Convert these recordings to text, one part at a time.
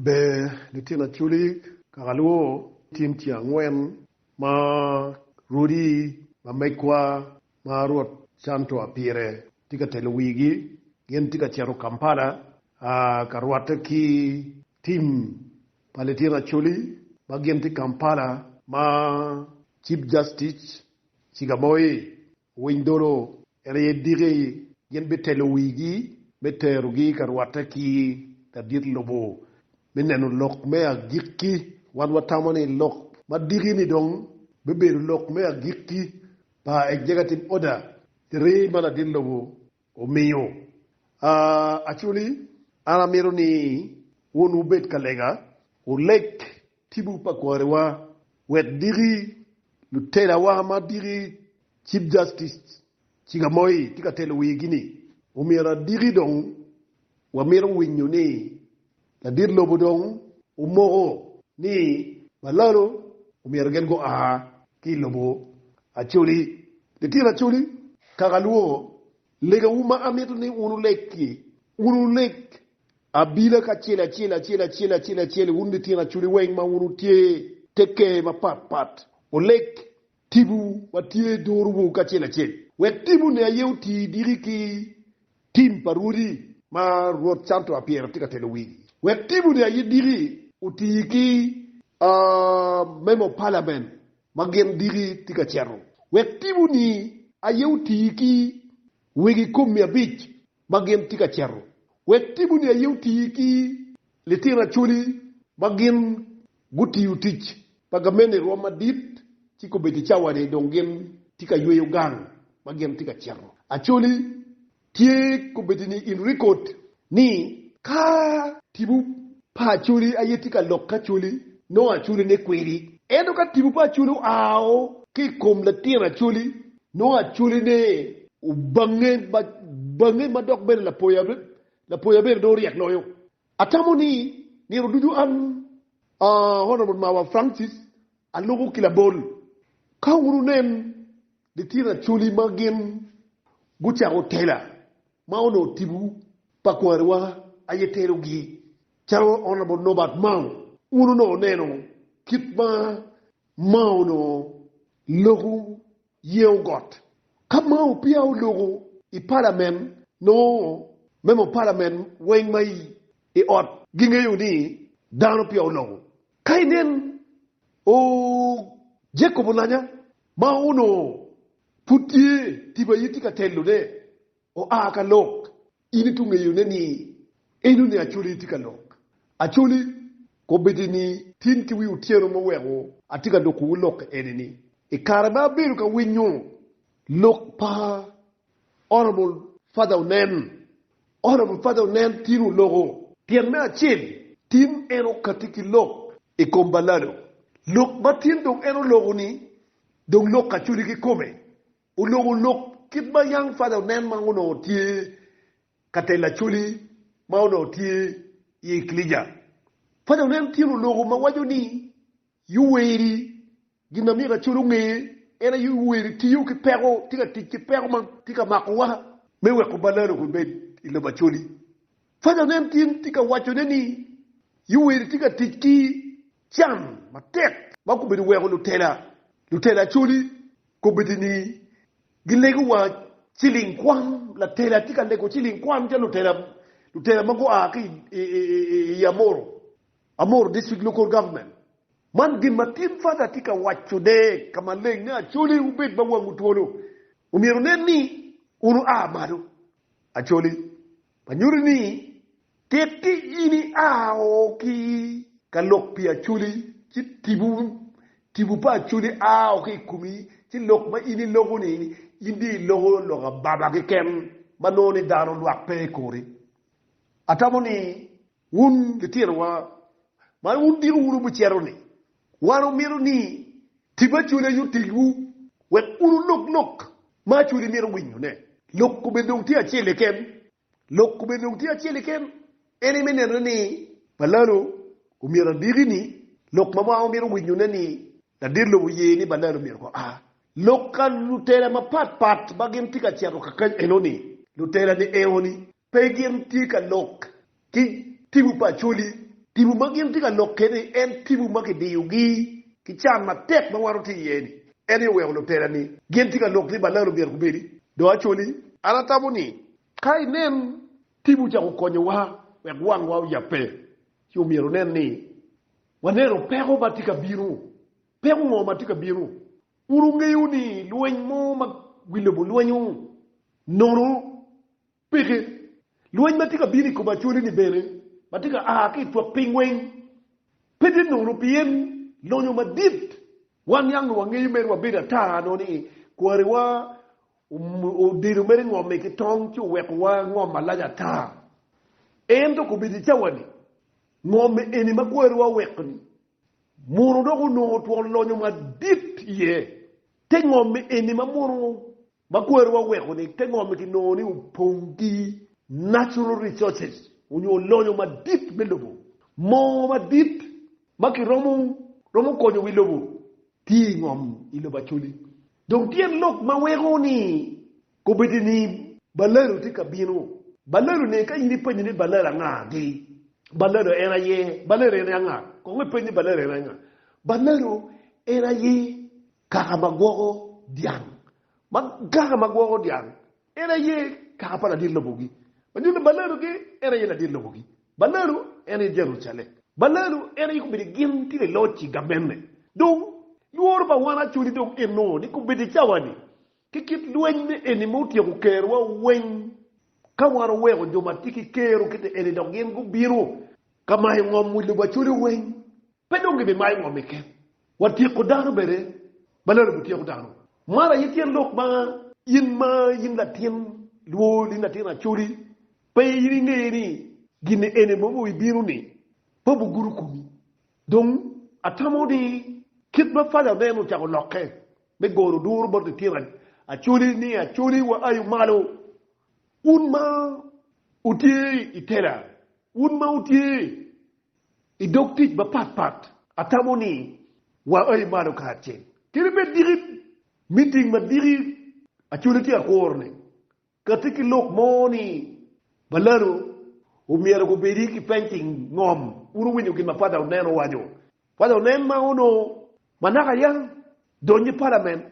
Ber litino acoli kaka lwo, Tim tye angwen ma rwodi ma megwa ma Rwot Chantua pire tye ka telo wigi. Gin tye ka cito Kampala a ka rwatte ki tim pa litino acoli ma gin tye Kampala ma Chief Justice Chiga Moi Owiny dolo en aye diki, gin bitelo wigi me terogi ka rwatte ki ladit lobo me neno lok me agikki. Wan watamo ni lok ma diki-ni dong bibedo lok me agikki pa executive order three ma ladit lobo omiyo, actually an amito ni wun wubed ka lega, wuleg tibu pa kwariwa wek diki lutelawa ma diki Chief Justice Chiga Moi tye ka telo wigi-ni omyero adiki dong wamito winyo ni Ladit lobo dong omoko ni balalo omyero gin gua ki i lobo Acoli. Litino Acoli, kaka alwongo legawu ma amito ni wun wuleg ki, wun wuleg abila kacel acel, acel acel, acel acel, wun litino Acoli weng ma wun wutye te ker mapat pat, wuleg Tipo ma tye i duruwu kacel acel. Wek tipone aye oti diki ki tim pa rwodi ma Rwot Cantua Pyere tye ka telo wigi. Wek tipone aye diki oti ki memo palamen ma gin diki tye ka ceto. Wek tiponi aye oti ki wegi kom-mi abic ma gin tye ka cito. Wek timoni aye oti ki litino acholi ma gin gutiyo tic pa gamente i rwom madit ci kobedo i cawani dong gin tye ka yweyo gang ma gin tye ka cito. Acholi tye kobedo ni in rikod ni ka tipo pa acholi aye tye ka lokke acholi nongo acholi ne kwedi. Ento ka tipo pa acholi oa o ki i kom latin acholi Nongo acolene obange bange ma dok bene lapoya lapoya bene dong ryek loyo. Atamo ni nino ducu an Honourable Mawa Francis aluku ki labol. Ka wunu nen litino acoli ma gin gucako tela ma onongo tibu pa kwariwa aye telogi calo Honourable Norbert Mao, wun onongo neno kit ma Ma onongo loko yeyo got. Ka Mao peya oloko i palament, nongo memo palament weng ma i ot gingeyo ni dano peya oloko. Ka inen o Jacob Olanya ma onongo pud tye tipo aye tye ka telo ne, oa ka lok In itu ngeyone ni enoni Acholi tye ka lok. Acholi, Kobedi ni tin ki wi otyeno ma oweko atye ka lokowu lok ene-ni, i kare ma abedo ka winyo lok pa Honourable Father Onen, Honourable Father Onen tin oloko. Tyen me acel, tin en okati ki lok i kom Balalo. Lok ma tin dong en oloko-ni dong lok Acholi kikome. Oloko lok kit ma Young Father onen ma onongo tye ka telo Acholi ma onongo tye i ekilica. Father onen tyen oloko ma waco ni Yoweri gin ma myero Acholi onge en aye Yoweri tiyo ki peko, tye ka tic ki peko ma tye ka makowa me weko balano pe bed i lobo Acholi. Father onen tyen tye ka wacone ni Yoweri tye ka tic ki can matek ma gubedo weko lutela lutela coli kobedi ni gilego wa ciling kwan latela tye ka lego ciling kwan calo lutela lutela ma gua ki i Amoro Amoro district local government man gin ma tin father tye ka waco ne ka maleng ni Acholi wubed ma wangu twolo omyero wunen ni wunu a malo Acholi ma nyuto ni tikki in ia o ki ka lok pi Acholi ci tipo, tipo pa Acholi a o ki i komi ci lok ma in iloko-ni, in dong iloko lok ababa keken ma nongo ni dano lwak pe i kori. Atamo ni Wun litinowa, man wudiko wunu bucero ni, Wan wumito ni tip Acholi aye otegwu wek wunu lok lok ma Acholi mito winyone. Lok kome dong tye acel keken. Lok kome dong tye acel keken, en aye me nenone ni balano omyero adiki ni lok ma mwaka wamito winyone ni ladit lobo oye ni balano myero gua. Lok ka lutela mapat pat ma gin tye ka cito kakany enoni, lutela ni enoni pe gin tye ka lok ki tibu pa Acholi. Tibu ma gin tye ka lok kede-ni en tibu ma kidiyogi ki can matek ma wan watye iye-ni. En aye oweko lutera-ni gin tye ka lok ni balal omyero gubedi do Acholi. An atamo ni ka inen tibu ocako konyowa wek wangwa oyabbe, ci omyero onen ni waneno peko ma tye ka bino. Peko ngo ma tye ka bino? Wun wungeyo ni lweny mo ma wi lobo lwenyo nono. Peke. Lweny ma tye ka bino i kom Acholi-ni bene ma tye ka a ki i twak piny weng pe tye nono pien lonyo madit. Wan niang nongo wangeyo mere wabedo ata nongo ni kwariwa odelo mere ngomme ki tong ci owekowa ngom malac ata. Ento kobedo i cawa-ni, ngomme eni ma kwariwa oweko-ni mono dok onongo twon lonyo madit iye. Te ngomme eni ma mono Ma kwerowa weko ni te ngom ki nongo ni opong ki natural resources onyo lonyo madit me lobo. Moo madit ma ki romo romo konyo wi lobo tye i ngom i lobo Acholi. Dong tyen lok ma weko ni kobedo ni balalo tye ka bino. Balalo ni ka in i penyo ni balalo anga gi? Balalo en aye? Balalo en aye anga? Kong i peny ni balalo en aye anga? Balalo en aye Kaka ma gwoko dyang. Ma kaka ma gwoko dyang, en aye kaka pa ladit lobogi. Ma nyuto ni balalogi en aye ladit lobogi. Balalo en aye Jerucalem. Balalo en aye kombeddi gin tye ka loc i gabenne. Dong, lworo pa wan acoli dong enno ni kombeddi i cawa-ni, ki kit lweny me eni ma otyeko kerowa weng, ka wan oweko jo ma tye ki ker okette eni dok gin gubino ka mayo ngom wi lubo acoli weng, Pe dong gibimayo ngomi keken wa tyeko dano bene ma lelo bityeko dano. Mar aye tyen lok ma in ma in latin lwol in latin acoli pe in ingeyo ni gin eni mo ma bibino ni pe obugudo komi. Dong atamo ni kit ma pala oneno ocako lokke me goro duru bot litino acoli ni acoli wa ayu malo wun ma wutye i tela wun ma wutye I dog tic mapat pat, atamo ni waa i malo kacel kede bed diki miting madiki acoli ci akuro ni kati ki lok mo ni balano omyero gubedi ki painting ngom wun wuwinyo gin ma Father Onen owaco. Father Onen ma onongo manaka yam donyo i palament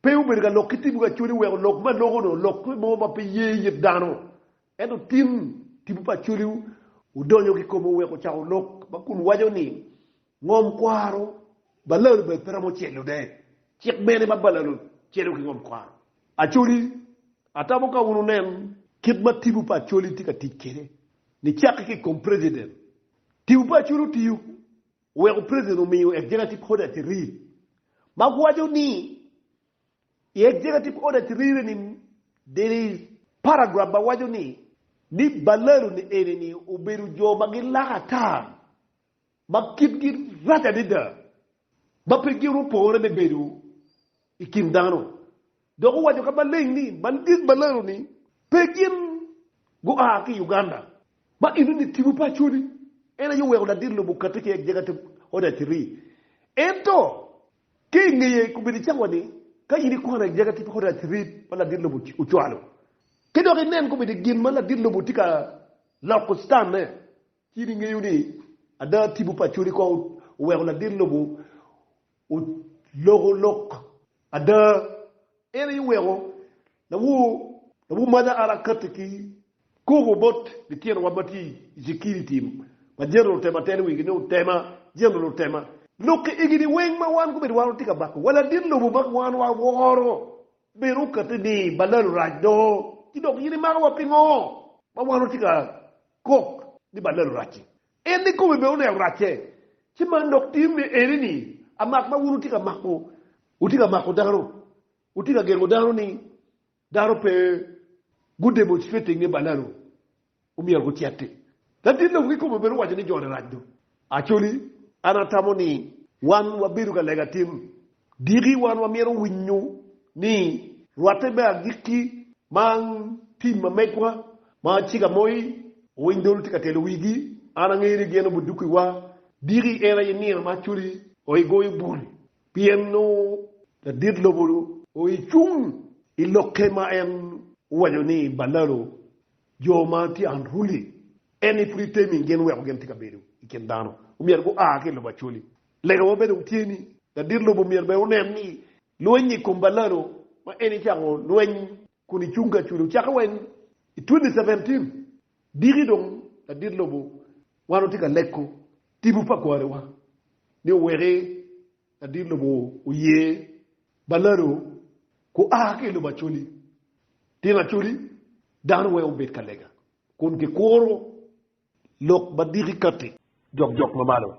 pe obedo ka lok ki tibu acoli weko lok ma loko-nu olok ki mo ma pe ye it dano Ento tin, tipo pa Acholi odonyo kikome oweko ocako lok ma kun waco ni, Ngom kwaro balalo bene pe romo celo de. Cik mene ma balalo celo ki ngom kwaro? Acholi, Atamo ka wun wunen kit ma tipo pa Acholi tye ka tic kwede ni cakki ki ikom President. Tipo pa Acholi otiyo oweko President omiyo Executive Order 3 ma waco ni I Executive Order Trire ni, there is paragraph ma waco ni, ni balalu ni eni ni obedo jo ma gilako ata, ma kitgi rac adada, ma pe girupore me bedo i kin dano. Dok owaco ka maleng ni, gin balalu ni pe gin gua ki Uganda, ma eno ni tipo pa Acholi en aye oweko ladit lobo kati ki Executive Order Trire. Ento Ki i ngeye i kombeddi cawa ni, ka in ikwano i jaga ki pi kodi acirit ma ladit lobo ocwalo, ki dok inen kombeddi gin ma ladit lobo tye ka loko citanne, ci in ingeyo ni ada tipo pa codi kong oweko ladit lobo oloko lok ada. En aye oweko lawo lawo mada ara kati ki Koko bot litinowa ma tye i cekini tim ma jeno lutema telo wigi ni otema jeno lutema. Lok i egini weng ma wan gubedo wan watye ka bako wa ladit lobo ma wan waworo bene okati ni balal orac do ci dok in imako wa pingo ma wan watye ka kok ni balal orac-ci. En ni kome bene oneno racce ci man dok tim ni eni ni amak ma wun wutye ka mako wutye ka mako dano wutye ka gengo dano ni Dano pe gudemonstrate i nge balanu omyero guceti. Latin lobo kikome bene owaco ni jone rac do. Actually an atamo ni wan wabedo ka lega tim diki wan wamyero winyo ni rwate me agikki ma ang tim ma megwa ma ciga moi owiny dolo tye ka telo wigi an angeyo ni gin obudukiwa diki en aye nino ma actually oigoyo bul Pien nongo ladit lobo oecung i lokke ma en owaco ni, Balalo jo ma tye unruly, en ni pud itemi gin weko gin tye ka bedo i kin dano, omyero gua ki i lobo Acholi. Lega wa bene dong tye ni, ladit lobo myero bene onen ni lweny i kom Balalo ma en ecako lweny kun icung ka cudo. Cakke wa i 2017, diki dong ladit lobo, wan watye ka leko tipo pa kwariwa ni oweki ladit lobo oye balado gua ki i lobo Acholi. Tyen Acholi, dano weng obed ka lega kun kikuro lok ma diki kati. Jokjok ma malo.